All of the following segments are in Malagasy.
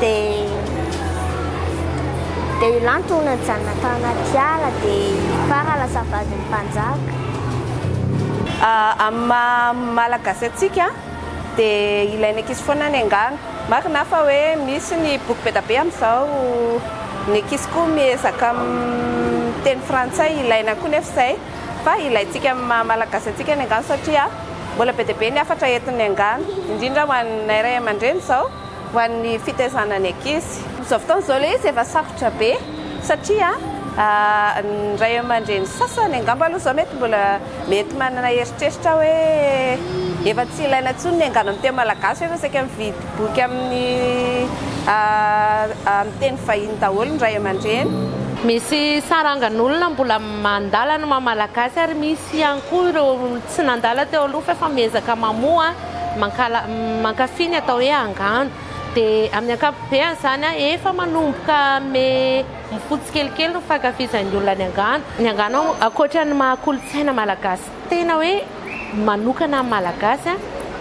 dia dia i Lanto hono nijanona tao anaty ala dia i Fara lasa vadin'ny mpanjaka. Amin'ny maha malagasy antsika dia ilain'ny ankizy foana ny angano. Marina fa hoe misy ny boky be dia be amin'izao, ny ankizy koa miezaka miteny frantsay, ilaina koa nefa izay. fa ilaintsika amin'ny maha Malagasy antsika ny angano satria mbola be dia be ny hafatra entin'ny angano, indrindra ho anay ray aman-dreny izao, ho an'ny fitaizana ny ankizy. Amin'izao fotoana izao ilay izy efa sarotra be satria ny ray aman-dreny sasany angamba aloha izao mety mbola mety manana eritreritra hoe efa tsy ilaina intsony ny angano amin'ny teny Malagasy fa efa saika mividy Boky amin'ny teny vahiny daholo ny ray aman-dreny. Misy sarangan'olona mbola mandala ny maha Malagasy ary misy ihany koa ireo tsy nandala teo aloha fa efa miezaka mamoha, mankafy ny atao hoe angano. Dia amin'ny ankapobeny izany efa manomboka hanome mofo tsikelikely ny fankafizan'ny olona ny angano. Ny angano ankoatra ny maha kolontsaina Malagasy. Tena hoe manokana amin'ny Malagasy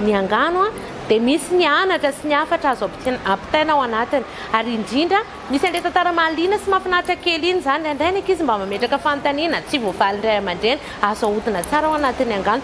ny angano dia misy ny anatra sy ny hafatra azo ampitaina ao anatiny ary indrindra misy an'ilay tantara mahaliana sy mahafinaritra kely iny izany, indraindray ny ankizy mba mametraka fanontaniana tsy voavalin'ny ray aman-dreny, azo ahodina tsara ao anatin'ny angano.